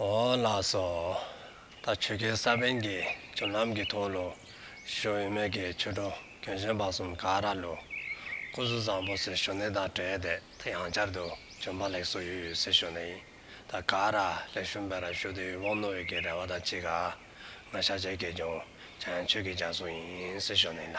འོ་ལགས་སོ། ད་ཆོལ་ཁའི་ས་བོན་གྱིས་བྱུར་ལམ་གྱི་ཐོག་ལུ་ཞོ་དབུས་མེད་ཀྱི་ཆོས་གྲོགས་གྱོན་གཞོན་པ་གསུམ་ག་ར་ལུ་སྐུ་གཟུགས་བཟང་པོ་སེར་ཞོ་ནད་དང་བྲལ་ཏེ་ད་ཡང་བསྐྱར་དུ་གྱོན་པ་ལེགས་སོ་ཡོད་ཡོད་སེར་ཞོ་ནད་ཡིན་ད་ག་ར་ལེགས་ཞུ་འབད་ར་ཞུ་དེ་ཡུལ་བོང་ནོར་བུས་ཀྱི་རལ་བ་དང་གཅིག་ག་ང་ཤ་ཆད་ཀྱིས་གྱོན་བྱ་ཡང་ཆོས་ཀྱི་རྒྱ་སྲུང་ཡིན་སེར་ཞོ་ནད་ལ།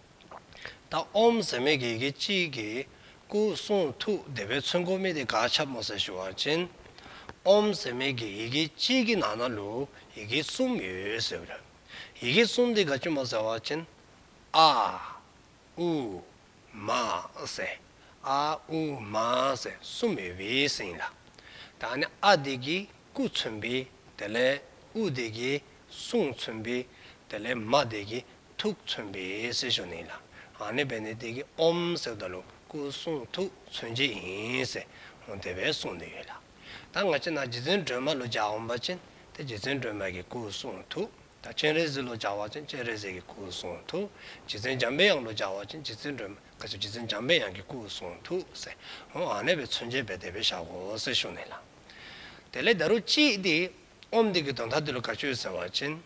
ད་ཨོམ་ཟེར་མི་དགེ་དགེ་ཅི་གི། སྐུ་གསུང་ཐུགས་བདེ་བས་མཚོན་གོ་མི་དེ་ག་ཆབ་མོ་ཟེར་ཞུ་བར་བྱིན། ཨོམ་ཟེར་མི་དགེ་ཡི་གེ་གཅིག་གི་ནང་ན་ལུ་ཡི་གེ་གསུམ་ཡོད་ཟེར་བར། ཡི་གེ་གསུམ་དེ་ག་ཅི་མོ་ཟེར་བར་བྱིན། ཨ། ཨུ། མ། ཟེར། ཨ། ཨུ། མ། ཟེར་གསུམ་ཡོད་པས་ཟིན་ལ། ད་ནི་ཨ་དེ་གིས་སྐུ་མཚོན་པས་དེ་ལས་ཨུ་དེ་གིས་གསུང་མཚོན་པའི། དེ་ལས་མ་འདས་ཀྱི་ཐུགས་མཚོན་པའི་སྲས་ཞོ་ནི་ལ། ཨཱ་ནི་བས་ནི་དེ་ཀའི་ཨོམ་སེར་དང་ལུག་ཀུ་གསུང་ཐུགས་མཚོན་བྱེད་ཡིན། སེའོ་དེ་བས་གསུངས་འདི་ཡོད་ལ། ད་ང་ཅི་ན་རྗེ་བཙུན་སྒྲོལ་མ་ལོ་བྱ་འོམ་པ་ཅན་དེ་རྗེ་བཙུན་སྒྲོལ་མ་ཀྱི་སྐུ་གསུང་ཐུགས་དང་སྤྱན་རས་གཟིགས་ལོ་བྱ་བ་ཅན་སྤྱན་རས་གཟིགས་ཀྱི་སྐུ་གསུང་ཐུགས་རྗེ་བཙུན་འཇམ་པའི་དབྱངས་ལོ་བྱ་བ་ཅན་རྗེ་བཙུན་སྒྲོལ་མ་ཀ་ཅེ་བཙུན་འཇམ་པའི་དབྱངས་ཀྱི་སྐུ་གསུང་ཐུགས་སེའོ་ཨཱ་ནི་བས་མཚོན་བྱེད་པས་དེ་བས་བྱའོ་སེ་ཞོ་ནི་ལ། དེ་ལས་འདི་རུ་ཅིས་ཏེ། ཨོམ་འདི་གི་དོན་ཐ་དུལ་དཀར་ཆོས་ཟེར་བ་ཅན།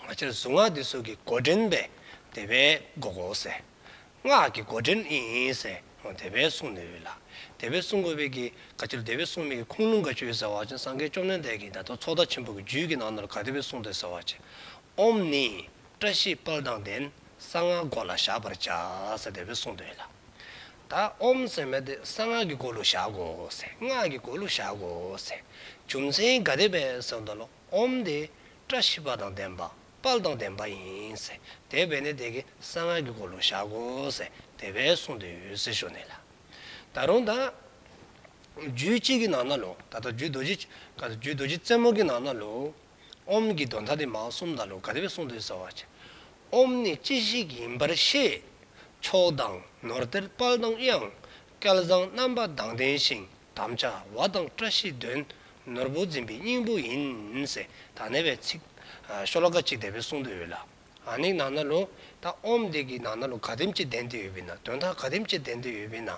ང་ཅར་གཟུངས་སྔགས་འདི་སྲོག་གི་མགོ་འདྲེན་པས་དེ་བས་འགོག་གོ་ཟེར། སྔགས་ཀྱི་མགོ་འདྲེན་ཨིན་ཟེར་མོ་དེ་བས་སྲུང་ནུས་ལ། དེ་བས་སྲུང་དགོས་པས་ཀྱི་དཀར་ཆོས་དེ་བས་སྲུང་མེད་ཀྱི་ཁུངས་ལུང་དཀར་ཆོས་ཟེར་བ་ཅན་སངས་རྒྱས་བཅོམ་ལྡན་འདས་ཀྱིས་བདག་ཏུ་ཚོགས་བདག་ཆེན་པོ་གི་རྒྱུད་ཀྱི་ནང་ནོར་ག་དེ་བས་སྲུང་འདོད་ཟེར་བ་ཅན། ཨོམ་ནི། བཀྲ་ཤིས་དཔལ་དང་ལྡན་གསང་སྔགས་མགོ་ལ་བཞག་པར་བྱ། ཟེར་དེ་བས་སྲུང་འདོད་ལ། ད་ཨོམ་སེམས་མེད་དེ་གསང་སྔགས་ཀྱི་སྒོ་ལུ་བཞག་གོ། སྔགས་ཀྱི་སྒོ་ལུ་བཞག་གོ། རྒྱུ་མཚན་ག་དེ་བས་སེམས་དང་ལོག་ཨོམ་དེ་བཀྲ་ཤིས་པ་དང་ལྡན་པ་དཔལ་དང་ལྡན་པ་ཡིན། དེ་བས་ནི་དེ་གི་གསང་སྔགས་ཀྱི་སྒོ་ལུ་བཞག་གོ། དེ་བས་གསུངས་དེ་ཡོད་ཟེར་ཞོ་ནི་ལ། ད་རུང་ད། རྒྱུད་གཅིག་གི་ནང་ན་ལོ། ད་ལྟ་རྒྱུད་རྡོ་རྗེ། རྒྱུད་རྡོ་རྗེ་རྩེ་མོ་གི་ནང་ན་ལོ། ཨོམ་གྱི་མདོ་མཐའ་དེ་མའོ་སུམ་རྟགས་ལུགས་ག་རེ་བས་གསུངས་འདུག་ཟེར་བ། ཨོམ་ནི་ཅི་ཞིག་ཡིན་པར་ཤེས། ཕྱོགས་དང་ནོར་གཏེར་དཔག་དང་དབྱངས། སྐལ་བཟང་རྣམ་པ་དང་ལྡན་ཞིང་དམ་བཅའ་བ་དང་བཀྲ་ཤིས་དོན། ནོར་བུ་འཛིན་པའི་སྙིང་པོ་ཡིན། ཟེར་ད་ནས་བའི་ཚིག། ཤོ་ལོ་ཀ་གཅིག་དེ་བས་གསུངས་འདུག་ཡོད་ལ། ནིག་ནང་ན་ལུགས། ད་ཨོམ་འདི་གི་ནང་ན་ལུགས་ག་དེམ་ཅི་ལྡན་འདུག་ཡོད་པས་ན་དོན་དག་ག་དེམ་ཅི་ལྡན་འདུག་ཡོད་པས་ན།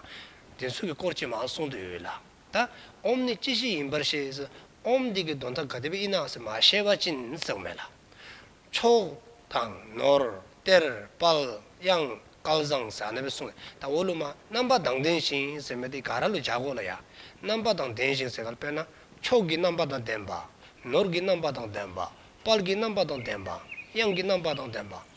འདི་ཚུལ་གྱི་སྐོར་ཅི་མང་གསུངས་འདུག་ཡོད་ལ། ད་ཨོམ་ནི་ཅི་ཞིག་ཡིན་པར་ཤེས་སོ། ཨོམ་འདི་གི་མདོ་མཐའ་ག་དེ་བས་ཨི་ནག་སེ་མ་ཤེས་པ་ཅི་ནི་ཟེར་བ་མེད་ལ། ཕྱོགས་དང། ནོར། གཏེར། དཔལ། དབྱངས། སྐལ་བཟང། ཟ་ནི་བས་གསུངས་ནས་ད་འོ་ལུ་མ་རྣམ་པ་དང་ལྡན་ཞིང་ཟེར་མི་དེ་ག་ར་ལུ་ཇག་གོ་ལ་ཡ། རྣམ་པ་དང་ལྡན་ཞིང་ཟེར་བར་དཔེར་ན། ཕྱོགས་ཀྱི་རྣམ་པ་དང་ལྡན་པ། ནོར་གྱི་རྣམ་པ་དང་ལྡན་པ། དཔལ་གྱི་རྣམ་པ་དང་ལྡན་པ། དབྱངས་ཀྱི་རྣམ་པ་དང་ལྡན་པ།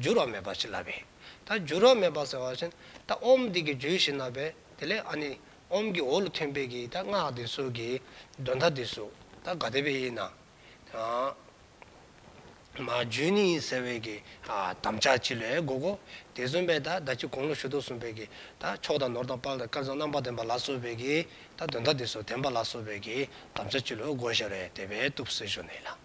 འགྱུར་བ་མེད་པར་བྱིན་བརླབས་པས། ད་འགྱུར་བ་མེད་པར་ཟེར་བ་བཞིན། ད་ཨོམ་བདུད་ཀྱི་རྒྱུད་བཞིན་ན་བས། དེ་ལས་ཨ་ནི། ཨོམ་གྱི་འོག་ལ་ཐོན་དཔེ་གྱིས་ད་སྔགས་འདི་གསོལ་གྱིས། གདོན་ད་འདི་གཟུགས་ད་དགའ་བདེ་བས་ཡིན། མ་བརྗོད་ནི་ཡིན་ཟེར་བས་ཀྱི། དམ་བཅའ་ཅི་ལས་དགོས་གོ། དེ་གསུམ་པས་ད་ད་ཅི་དགོངས་ལོ་ཞུ་དོ་གསུངས་པས་ཀྱི། ད་ཕྱོགས་དང་ནོར་དང་དཔལ་དང་སྐལ་བཟང་རྣམ་པར་ལྡན་པ་ལ་གསོལ་བས་ཀྱི། ད་གདོན་ད་འདི་གསོལ་བདེན་པ་ལ་གསོལ་བས་ཀྱི། དམ་བཅའ་ཅི་ལོ་དགོས་ཞེས་རེ་དེ་བས་གཏུབས་སེ་ཞོ་ནི་ལ།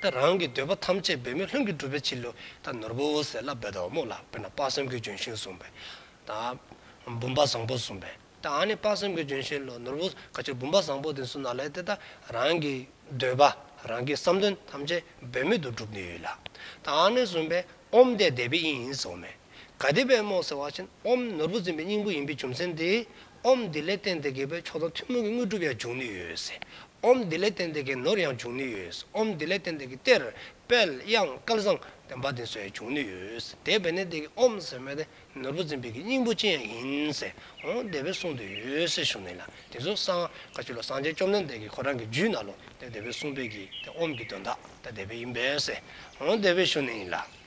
ཏེ། རང་གི་འདོད་པ་ཐམས་ཅད་འབད་མེད་ལྷུན་གྱིས་འགྲུབ་པའི་ཕྱིར་ལུས་དང་ནོར་བུ་འོད་ཟེར་ལ་འབད་དོ། དམུ་ལ་དཔེར་ན་དཔག་བསམ་གྱི་ལྗོན་ཤིང་བཟུང་བས། དང། བུམ་པ་བཟང་པོ་བཟུང་བས། དང་ནི་དཔག་བསམ་གྱི་ལྗོན་ཤིང་ལ་ནོར་བུ་ག་ཕྱིར་བུམ་པ་བཟང་པོ་དེ་བཟུང་ན་ལས་དེ་དག་རང་གི་འདོད་པ་རང་གི་བསམ་དོན་ཐམས་ཅད་འབད་མེད་དུ་འགྲུབ་ནུས་ལ། དང་ནི་བཟུང་བས་ཨོམ་བཟླས་བཟླས་པའི་དབྱིངས་ཡིན་ཟེར་བ་མེད། ག་དེ་བས་རྨོངས་སེལ་བ་ཆེན་ཨོམ་ནོར་བུ་འཛིན་པའི་སྙིང་པོ་ཡིན་པའི་རྒྱུ་མཚན་དེས་ཨོམ་དེ་ལས་སྟན་དེ་གའི་བས་མཆོག་དང་ཐུན་མོང་གི་དངོས་གྲུབ་ཡང་འབྱུང་ནུས་ཡོད། ཨོམ་དེ་ལས་སྟན་དེ་གའི་ནོར་ཡང་འབྱུང་ནུས་ཡོད། ཨོམ་དེ་ལས་སྟན་དེ་གའི་གཏེར། དཔལ། དབྱངས། སྐལ་བཟང། བསྟན་པ་འདི་ཚོ་ཡང་འབྱུང་ནུས་ཡོད། དེ་བས་ནས་དེ་གའི་ཨོམ་ཟེར་མ་དེ་ནོར་བུ་འཛིན་པའི་གི་སྙིང་པོ་ཅན་ཡང་ཡིན། ཨོ་འདི་བས་གསུངས་དུ་ཡོད་ཟེར་ཞུ་ནས་ལ་དེ་ཚོ་སང་ཀ་ཆུ་ལ་སངས་རྒྱས་བཅོམ་ལྡན་འདས་ཀྱི་ཁོ་རང་གི་རྒྱུད་ན་ལོ་ཏེ་དེ་བས་གསུངས་པའི་གི་ཨོམ་གྱི་དོན་དག་ཏེ་དེ་བས་ཡིན་པས། ཨོ་འདི་བས་ཞུ་ནས་ཡིན་ལ།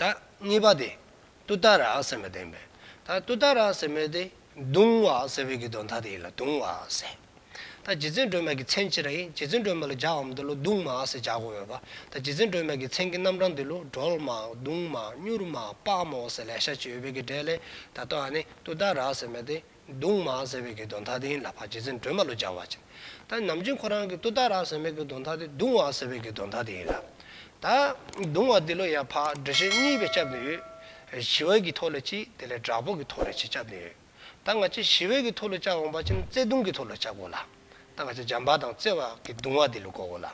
ད་གཉིས་པ་དེ། ཏུ་ཏཱ་ར་སེ་མེ་དེ། ད་ཏུ་ཏཱ་ར་སེ་མེ་དེ། དུང་བ་སེ་བའི་གི་དོན་ཐ་དེ་ཡིན་ལ་དུང་བ་སེ། ད་རྗེ་བཙུན་སྒྲོལ་མ་གི་མཚན་ཅི་ར་ཡིན་རྗེ་བཙུན་སྒྲོལ་མ་ལ་ཇག་འམ་འདི་ལོ་དུང་མ་སེ་ཇག་དགོས་མེད་པ། ད་རྗེ་བཙུན་སྒྲོལ་མ་གི་མཚན་གི་རྣམ་གྲངས་འདི་ལོ་སྒྲོལ་མ་དུང་མ་སྙུར་མ་དཔའ་མོ་སེ་ལས་ཤ་ཆེ་ཡོད་པའི་གི་སྒྲས་ལས་ད་ཏུ་ཨ་ནི་ཏུ་ཏཱ་ར་སེ་མེ་དེ། གདུང་མ་ཟེར་བའི་གདོན་ཐ་དེའི་ལ་ཕ་རྗེ་བཙུན་སྒྲོལ་མ་ལོ་བྱ་བ་བྱིན། ད་ནམ་རྒྱུན་ཁོ་རང་གི་ཏུ་ཏཱ་ར་ཟེར་མའི་གདོན་ཐ་དེ་གདུང་བ་ཟེར་བའི་གདོན་ཐ་དེའི་ལ། ད་གདུང་བ་དེ་ལོ་ཡ་ཕ་འབྲི་ཆུ་གཉིས་པའི་སྐྱབས་ནས་ཡོད། ཞི་བའི་གི་ཐོག་ལ་གཅིག་དེ་ལས་དྲག་པོ་གི་ཐོག་ལ་གཅིག་སྐྱབས་ནས་ཡོད། ད་ང་ཅི་ཞི་བའི་གི་ཐོག་ལོ་བྱ་འོང་བ་བྱིན་བརྩེ་གདུང་གི་ཐོག་ལོ་བྱ་གོ་ལ། ད་ང་ཅི་འཇམ་པ་དང་བརྩེ་བ་གི་གདུང་བ་དེ་ལོ་གོ་གོ་ལ།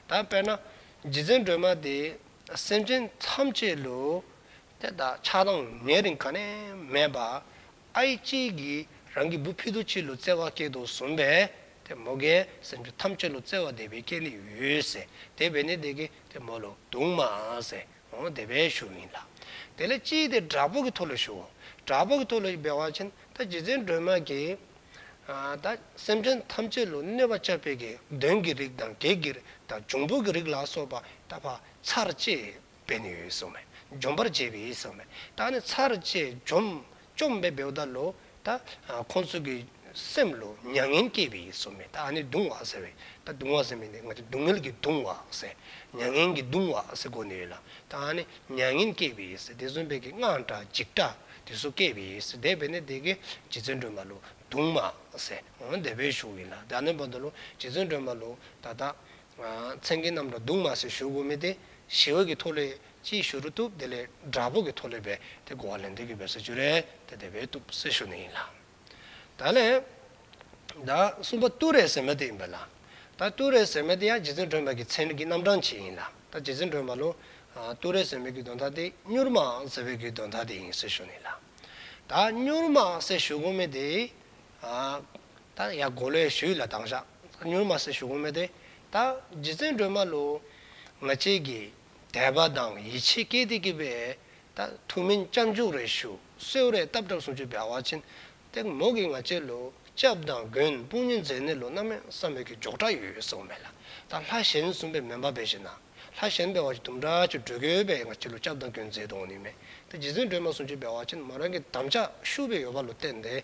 ད་དཔེར་ན། རྗེ་བཙུན་སྒྲོལ་མ་དེ་སེམས་ཅན་ཐམས་ཅད་ལོ། དེ་དག་ཆགས་སྡང་ནད་རིགས་ག་ནས་མེད་པ། ཨའི་གཅིག་གིས་རང་གི་བུ་ཕི་དུ་ཆིལ་ལོ་བཙལ་བ་སྐྱེད་དོ་བཟུང་བས་དེ་མོ་གའི་སེམས་ཅུང་ཐམས་ཅད་ལོ་བཙལ་བ་དེ་བས་སྐྱེད་ལེ་ཡོས་དེ་བས་ནི་དེ་གི་དེ་མོ་ལོ་དུང་མ་ཟེའོ་དེ་བས་ཞུ་ཡིན་ལ། དེ་ལས་གཅིག་དེ་དགྲ་བོ་གི་ཐུགས་ལ་ཞུའོ། དགྲ་བོ་གི་ཐུགས་ལ་སྦས་བ་ཆེན་ད་རྗེ་བཙན་སྒྲོལ་མ་གིས། ད་སེམས་ཅན་ཐམས་ཅད་ལོ་གནོད་པ་བཅའ་བས་ཀྱི་གདོན་གྱི་རིགས་དང་བགེགས་ཀྱི་རིགས་དང་འབྱུང་པོ་གི་རིགས་ལ་སོགས་པ་ད་བག་ཚར་བཅས་བས་ནི་ཡོད་གསུངས་མེད། འཇོམས་པར་བྱེད་པས་གསུངས་མེད། བདག་ནི་ཚར་བཅད་འཇོམས། བཅོམ་པའི་བེའུ་ལྟར་ལོ། ད་ཁོང་ཚོས་ཀྱི། སེམས་ལ་མྱ་ངན་སྐྱེད་པས་གསུངས་མེད། ད་ནི་གདུང་བ་ཟེར་བས། ད་གདུང་བ་ཟེར་མེད་ནི། སྔར་གྱི་སྡུག་བསྔལ་གྱི་གདུང་བ་ཟེར། མྱ་ངན་གྱི་གདུང་བ་ཟེར་གོ་ནི་ཡོད་ལ། ད་ནི་མྱ་ངན་སྐྱེད་པས་ཟེར། དེ་གསུངས་པས་ཀྱི་སྔགས་འདྲ་འཇིགས་འདྲ། དེ་སོགས་སྐྱེད་པས་ཟེར། དེ་བས་ནི་དེ་ཀྱི། རྗེ་བཙུན་སྒྲོལ་མ་ལོ། གདུང་མ། ཟེར། འོ་ན་དེ་བས་ཞུགས་ཡིན་ལ། ད་ནི་བོ་ད་ལོ། རྗེ་བཙུན་སྒྲོལ་མ་ལོ། ད་ད། མཚན་གྱི་རྣམས་ལ་གདུང་མ་ཟེར་ཞུ་དགོས་མེད་དེ། ཞི་བ་གི་ཐོ་ལས་ཅི་ཞུ་རུ་གཏུབ་དེ་ལས་དགྲ་བོ་གི་ཐོ་ལས་བས་དེ་གོ་བ་ལེན་འདོད་ཀྱི་བས་ས་ཅུ་རེ་དེ་དེ་བས་གཏུབ་ས་ཞུ་ནི་ཡིན་ལ། ད་ལས། ད་གསུམ་པ་གཏུ་རེ་ཟེར་མ་དེ་ཡིན་པ་ལ། ད་གཏུ་རེ་ཟེར་མ་དེ་ཡང་རྗེ་བཙུན་སྒྲོན་མ་གི་མཚན་གྱི་རྣམ་གྲངས་གཅིག་ཡིན་ལ། ད་རྗེ་བཙུན་སྒྲོན་མ་ལུང། གཏུ་རེ་ཟེར་མའི་གྱི་གདོན་མཐའ་དེ་སྨྱུར་མའང་ཟེར་བའི་གྱི་གདོན་མཐའ་དེ་ཡིན་ས་ཞུ་ནི་ལ། ད་སྨྱུར་མ་ཟེར་ཞུ་དགོས་མེད་དེ། ད་ཡ་གོ་ལའི་ཞུས་ལ་དྭངས་ཞག་མྱུར་མ་སེ་ཞུ་གོ་མེད་དེ། ད་རྗེ་བཙན་སྒྲོལ་མ་ལོ། ང་བཅས་ཀྱི་དད་པ་དང་ཡིད་ཆེས་སྐྱེས་ཏེ་སྐྱིད་པའི། ད་ཐུ་མིན་སྐྱབས་མཇུག་རེ་ཞུ་སེའོ་རེ་སྟབས་གྲབས་སུང་ཆུ་བེ་བ་ཆེན། ཏེ་མོ་གིས་ང་བཅས་ལོ་སྐྱབས་དང་དགོན་དཔུང་གཉིས་མཛད་ནས་ལོ་སྣ་མེད་བསམ་མེད་ཀྱི་འཇོག་གྲ་ཡོད་ཡོད་སེའོ་མེད་ལ། ད་ལྷ་གཞན་གསུམ་པའི་མེ་འབར་བེ་བཞིན་ན། ལྷ་གཞན་བེ་བ་ཆེ་དུམ་དྲག་ཆུ་འགྲོས་གོས་བས་ང་བཅས་ལོ་སྐྱབས་དང་དགོན་མཛད་དུ་འོང་ནི་མེད། ཏེ་རྗེ་བཙན་སྒྲོལ་མ་སུང་ཆུ་བེ་བ་ཆེན་མོ་རང་གི་དམ་བཅའ་ཤུ་བེ་ཡོད་པ་ལོ་བསྟན་ཏེ།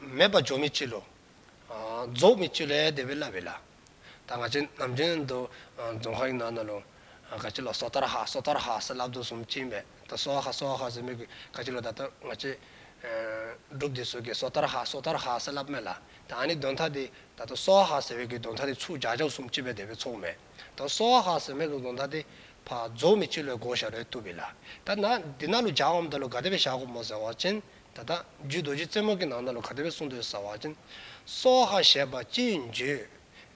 མེད་པ་འཇོག་མི་བྱེད། རྫོགས་མི་བྱེད། བདེ་བའི་བླ་བའི་བླ། ད་ང་ཅན་ནམ་ཅན་དུ། རྫོང་ཁ་ཡིག་ནང་ན་ལུང། ག་ཅི་ལོ་སོ་ཐར་ཧ་སོ་ཐར་ཧ་སི་ལབ་དུ་སུམ་ཅི་མེད། ད་སོ་ཧ་སོ་ཧ་སི་མེད་གི། ག་ཅི་ལོ་ད་ལྟ་ང་ཅན། སྒྲུབ་སྡེ་སོ་གི་སོ་ཐར་ཧ་སོ་ཐར་ཧ་སི་ལབ་མེད་ལ། ད་ཨ་ནི་གདོན་ཐ་དེ། ད་ད་སོ་ཧ་ཟེར་བའི་གི་གདོན་ཐ་དེ་ཚུགས་བྱ་བྱ་སུམ་ཅི་བའི་བདེ་བའི་ཚོགས་མེད། ད་སོ་ཧ་ཧ་ཟེར་མེད་གི་གདོན་ཐ་དེ། བ་རྫོགས་མི་བྱེད་ལོའི་བགོ་བཤའ་རོའི་ཏུ་བི་ལ། ད་ན་འདི་ན་ལོ་བྱ་འམ་ད་ལོ་ག་བདེ་བའི་བྱ་གོ་མོ་ཟེར་བ་ཅན། ད་ལྟ་རྒྱུད་རྡོ་རྗེ་རྩེ་མོ་གི་ནང་ན་ལོ་ག་དེ་བས་གསུང་དུ་ཟ་བ་ཅན། སྭོ་ཧ་ཞེས་པ་ཅི་ཡིན་བརྗོད།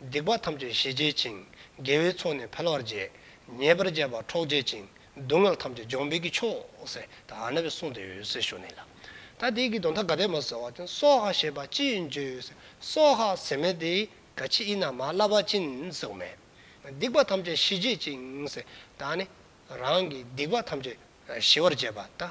སྡིག་པ་ཐམས་ཅད་ཞི་བྱེད་ཅིང་དགེ་བའི་ཚོགས་ནི་འཕེལ་བར་བྱེད། ཉེས་པར་སྤྱད་པ་འཕྲོག་བྱེད་ཅིང་སྡུག་བསྔལ་ཐམས་ཅད་སྦྱོང་འཕེལ་གྱི་མཆོག། ཟད་ཨ་ན་བའི་གསུང་དེ་འོད་ཟེར་ཞུ་ནས་ལ། ད་ལྟ་དེའི་གི་དོན་ཐ་ག་དེ་མ་ཟ་བ་ཅན་སྭོ་ཧ་ཞེས་པ་ཅི་ཡིན་བརྗོད། སྭོ་ཧ་ཟེར་མེད་དེ་ག་ཆི་ཨི་ན་མ་བླ་བ་ཅིན་ཟེར་མས། སྡིག་པ་ཐམས་ཅད་ཞི་བྱེད་ཅིང། ད་ནི་རང་གི་སྡིག་པ་ཐམས་ཅད་ཞི་བར་བྱེད་པ་ད།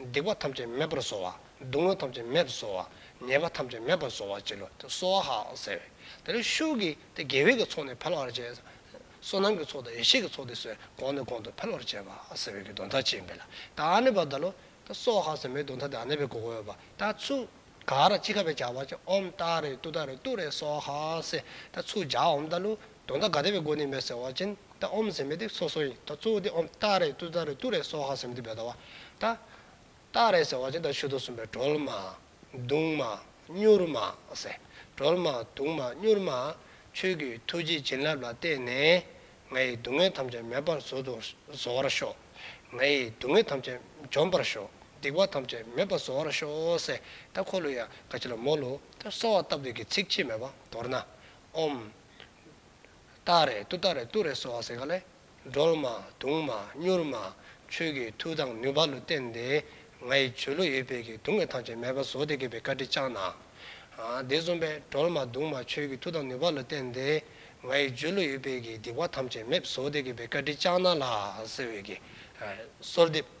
སྡིག་པ་ཐམས་ཅད་མེད་པར་གསོ་བ། སྡུག་བསྔལ་ཐམས་ཅད་མེད་པར་གསོ་བ། ཉེས་པ་ཐམས་ཅད་མེད་པར་གསོ་བ་བྱས་ལོ། དེ་གསོ་བ་ཧ་ཟེར། དེ་ལ་ཤུགས་ཀྱིས་དེ་དགེ་བས་ཀྱི་ཚོགས་ནི་འཕེལ་བར་བྱེད། བསོད་ནམས་ཀྱི་ཚོགས་དང་ཡེ་ཤེས་ཀྱི་ཚོགས་དེ་སོས་གོང་ནས་གོང་དུ་འཕེལ་བར་བྱེད་པ་ཟེར་བས་ཀྱི་གདོན་ཐ་ཆེས་འཕེལ། དེ་ཨ་ནེ་བ་དཱ་ལོ། དེ་གསོ་བ་ཧ་ཟེར་མའི་གདོན་ཐ་དེ་ཨ་ནེ་བའི་གོ་བའི་བ་དཱ་ཚུགས། ག་ར་ཅི་ཁ་བའི་བྱ་བ་ཅི་ཨོམ་ཏཱ་རེ་ཏུ་ཏཱ་རེ་ཏུ་རེ་གསོ་བ་ཧ་ཟེར། དེ་ཚུགས་བྱ་ཨོམ་དཱ་ལུ། དོན་དག་ག་དེ་བའི་སྒོ་ནས་མེད་ཟེར་བ་ཅན་ད་ཨོམ་ཟེར་མི་ཏེ་སོ་སོ་ཡིན་ད་གཙོ་བོ་དེ་ཨོམ་རྟ་རེད་ཏུ་ཏ་རེད་ཏུ་རེད་སོགས་ཧ་ཟེར་མི་ཏེ་བད་ད་བ། ད། རྟ་རེད་ཟེར་བ་ཅན་ད་ཆུ་དོ་གསུམ་པའི་གྲོལ་མ། དུང་མ། སྙུར་མ། ཟེར། གྲོལ་མ། དུང་མ། སྙུར་མ། ཆོས་ཀྱི་ཐུགས་རྗེའི་བྱིན་རླབས་ལ་བརྟེན་ནས། ང་ཡི་སྡུག་བསྔལ་ཐམས་ཅད་མེད་པར་བཟོ་དུ་བཟོ་བར་ཤོག། ང་ཡི་སྡུག་བསྔལ་ཐམས་ཅད་འཇོམས་པར་ཤོག་སྡིག་པ་ཐམས་ཅད་མེད་པར་བཟོ་བར་ཤོག་ཟེར་ད་ཁོ་ལོ་ཡ་ག་ཅི་ལ་མོ་ལོ་ད་སོགས་བཏབ་འདོད་ཀྱི་ཚིག་ཆེས་མེད་པ་མདོར་ན། ཨོམ། སྟག་རལ་ཏུ་སྟག་རལ་ཏུ་རལ་སོགས་ཟེར་ག་ལས། སྒྲོལ་མ། དུང་མ། མྱུར་མ། ཆོས་ཀྱི་མཐུ་དང་ནུས་པ་ལུས་བརྟན་ཏེ། ང་ཡི་བྱོལ་ལོ་ཡོད་པས་ཀྱིས་དུང་བའི་ཐང་ཆེན་མལ་པ་བཟོ་སྟེ་གད་པའི་བཀའ་དྲི་བཅངས་ན། དེ་གསུམ་པས་སྒྲོལ་མ་དུང་མ་ཆོས་ཀྱི་མཐུ་དང་ནུས་པ་ལུས་བརྟན་ཏེ། ང་ཡི་བྱོལ་ལོ་ཡོད་པས་ཀྱིས་སྡིག་པ་ཐམས་ཅད་མེད་བཟོ་སྟེ་གད་པའི་བཀའ་དྲི་བཅངས་ན་ལ་ཟེར་བས་ཀྱིས། གསོལ་འདེབས།